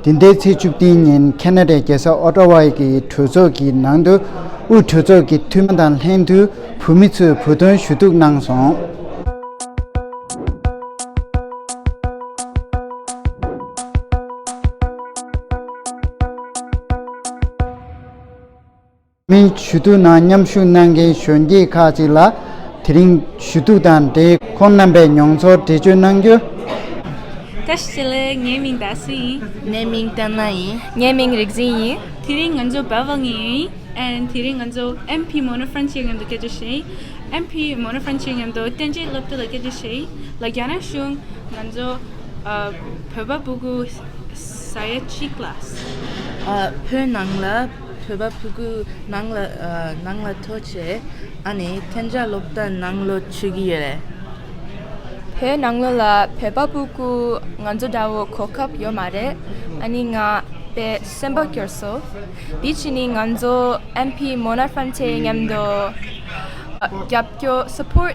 དེ་འདས་ཚེས་བཅུ་བདུན་ཉིན་ཁེ་ན་ཏྲའི་རྒྱལ་ས་ཨོ་ཏྲ་བྷ་ཡི་གྲོས་ཚོགས་ཀྱི་ནང་དུ་དབུས་གྲོས་ཚོགས་ཀྱི་འཐུས་མི་དང་ལྷན་དུ་བོད་མི་ཚོས་བོད་དོན་ཞུ་གཏུག་གནང་སོང། མིའི་ཞུ་གཏུག་ནང་མཉམ་ཞུགས་གནང་མཁན་གཞོན་སྐྱེས་ཁག་ཅིག་ལ་དེ་རིང་ཞུ་གཏུག་དང་འབྲེལ་ཁོང་རྣམ་པའི་མྱོང་ཚོར་འགྲེལ་བརྗོད་གནང་རྒྱུ། བཀྲ་ཤིས་ལགས་ངའི་མིང་རྡ་སུ་ཡིན། ངའི་མིང་ཏན་ན་ཡིན། ངའི་མིང་རིག་འཛིན་ཡིན། དེ་རིང་ང་ཚོ་བལ་བོ་ངེ་ཡིན། and དེ་རིང་ང་ཚོ MP མོནོ་ཧྥ་རན་ཆའི་ངམ་དུ་སྐད་རྒྱག་བྱེད་ཡིན། MP མོནོ་ཧྥ་རན་ཆའི་ངམ་དུ་བསྟན་འཇལ་སློབ་གྲྭ་ལ་སྐད་རྒྱག་བྱེད་ཡིན། ལ་རྒྱ་ནག་གཞུང་ང་ཚོ་བོད་པ་སྤུ་གུ་ས་ཡ་གཅིག་ལ། བོད་ནང་ལ། ཐོས་པ་ཕུ་གུ་ནང་ལ་ནང་ལ་ཐོས་བྱས་ཨ་ནི་ཐན་རྒྱ་སློབ་གྲྭ་ནང་ལོ་ཆུད་ཀྱི་ཡོད་རེད། བོད་ནང་ལོ་ལ་བོད་པ་པུ་གུ་ང་ཚོ་འདྲ་བོ་གོ་སྐབས་ཡོད་མ་རེད་ཨ་ནི་ང་དཔེ་སེམས་པ་སྐྱོར་སོ། དེ་ཕྱི་ནི་ང་ཚོ་ཨེམ་ཕི་མོ་ན་ཧྥན་ཆེ་མཉམ་དུ་རྒྱབ་སྐྱོར support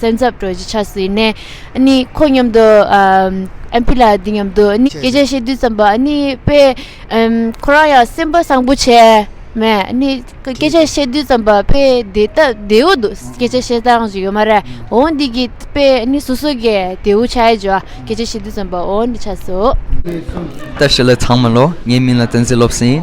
སེམས་འཚབ་སྤྲོ་རྒྱུ་ཆགས་སྲིད་ནས། ནི། ཁོ་སྙམ་དུ། ཨེམ་ཕི་ལ་འདི་སྙམ་དུ། ནི། སྐད་ཆ་བཤད་དུས་ཙམ་པ། ནི། པས། ཁོ་རང་ཡང་སེམས་པ་བཟང་པོ་བྱས། མས། ནི། སྐད་ཆ་བཤད་དུས་ཙམ་པ། པས། དེ་ལྟ་བདེའུ་འདུག་སྐད་ཆ་བཤད་སྟངས་ཞིག་ཡོད་མ་རེད། འོང་འདི་གི། པས། ནི་སོ་སོ་གས་དེའུ་ཆ་ཡི་འཇོག། སྐད་ཆ་བཤད་དུས་ཙམ་པ། འོང་འདི་ཆ་སོ། ལྟ་བྱེད་ལས་ཚང་མ་ལོ། ངའི་མིང་ལ་བསྟན་ཟིན་སློབ་ཟིན།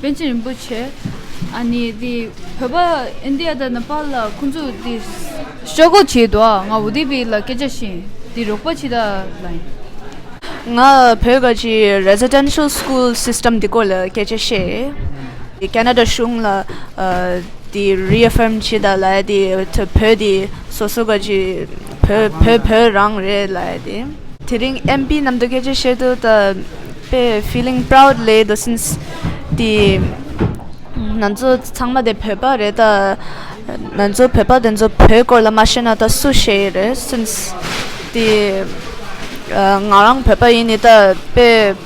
པཎ་ཆེན་རིན་པོ་ཆེ་ཨ་ནི་དེ་བོད་པ་ཨིན་དི་ཡ་དང་ནི་པ་ལ་ཁོང་ཚོ་དེ་ཤོག་ཁོག་བྱས་འདུག་ང་བོ་དེ་བི་ལ་སྐད་ཆ་བཤད་དེ་རོགས་པ་བྱེད་ད་ལ་ཡིན། ང་བོད་པ་གྱི Residential School System དེ་སྐོར་ལ་སྐད་ཆ་བཤད་དེ Canada གཞུང་ལ་དེ Reaffirm བྱེད་ད་ལ་ཡིན་དེ་བོད་དེ་སོ་སོ་ག་གྱི་བོད་བོད་བོད་རང་རེད་ལ་ཡ་དེ། དེ་རིང་ཨེམ་པི་རྣམ་རྟོག་སྐད་ཆ་བཤད་དུས་ད་པེ་ཕིལིང་པྲའུད་ལེ་དོ་སིན་སི་དེ། ང་ཚོ་ཚང་མ་དེ་བོད་པ་རེད་ད། ང་ཚོ་བོད་པ་དེ་ཚོ་བོད་སྐོར་ལ་མ་ཤེས་ན་ད་སུ་ཤེས་ཡི་རེད་སིན་སི་དེ། ང་རང་བོད་པ་ཡིན་ནི་ད་པེ།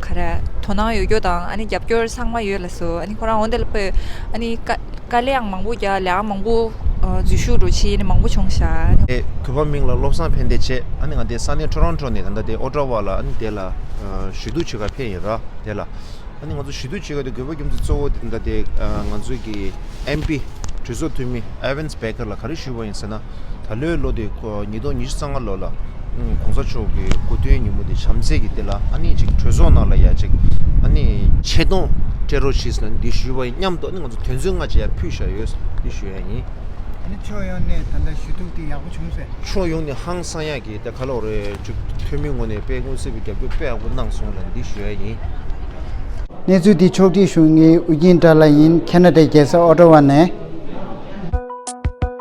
ག་རེ་དོ་སྣང་ཡོད་རྒྱུ་དང་རྒྱབ་སྐྱོར་ཚང་མ་ཡོད་ལ་སོ་ཁོ་རང་འོན་ཏེ་ལ་ཕོད་དཀའ་ལས་མང་པོ་རྒྱག་ལས་མང་པོ་འཛུལ་ཞུགས་འགྲོ་ཆེད་མང་པོ་བྱུང་ཤག། གུས་པ་མིང་ལ་བློ་བཟང་ཕན་བདེ་ཆེ་ཨ་ནི་ང་དེ་ས་གནས་ཁྲོ་རོན་ཁྲོ་ནས་ད་ལྟ་དེ་ཨོ་ཀྲ་བ་ལ་ཨ་ནི་དེ་ལ་ཞུ་གཏུག་བྱེད་ཁར་ཕེབས་ཡིན་ར་དེ་ལ་ཨ་ནི་ང་ཚོ་ཞུ་གཏུག་བྱེད་ཁར་དེ་གུས་པ་རྒྱུ་མཚན་གཙོ་བོ་དེ་ད་ལྟ་དེ་ང་ཚོ་གི་ཨེམ་པི་གྲོས་ཚོགས་འཐུས་མི་ཨེ་ཝེན་སྦེ་ཀེར་ལ་ག་རེ་ཞུས་པ་ཡིན་ཟེར་ན། ད་ལོའི་ལོ་དེ་ཉིས་སྟོང་ཉི་ཤུ་རྩ་ལྔ་ལོ་ལ ྋགོང་ས་མཆོག་གི་སྐུ་སྟོན་ཉིན་མོ་དེ་བྱམས་བརྩེ་གྱི་ལྟེ་ལ་ཨ་ནེ་ཅིག་གྲོས་ཚོགས་ནང་ལ་ཡ་ཅིག་ཨ་ནེ་ཆེ་མཐོང་སྤྲད་རོགས་ཞེས་ནན་འདྲི་ཞུས་པ་ཡིན་སྙམ་དུ་ང་ཚོ་དོན་ཚོད་ལྔ་བཅས་ཡར་ཕུད་བཞག་ཡོད་འདྲི་ཞུ་ཡ་ཡིན། ཨ་ནེ་ཕྱོགས་ཡོངས་ནས་ད་ལྟ་ཞུ་གཏུག་དེ་ཡག་པོ་བྱུང་ཟེར། ཕྱོགས་ཡོངས་ནས་ཧང་སང་ཡག་གི་དེ་ག་ལོག་རེད་ཅུག་ཐོན་མི་ངོ་ནས་དཔལ་ཀུང་སི་བའི་རྒྱབ་སྐྱོར་དཔེ་ཡག་པོ་གནང་སོང་ལ་འདྲི་ཞུ་ཡ་ཡིན། གནས་ཚུལ་འདི་ཕྱོགས་བསྒྲིགས་གཞུང་གཉིས་དབུས་རྒྱུན་དྲ་ལ་ཡིན་ཁེ་ན་ཏའི་རྒྱལ་ས་ཨོ་ཏོ་བ་ནས།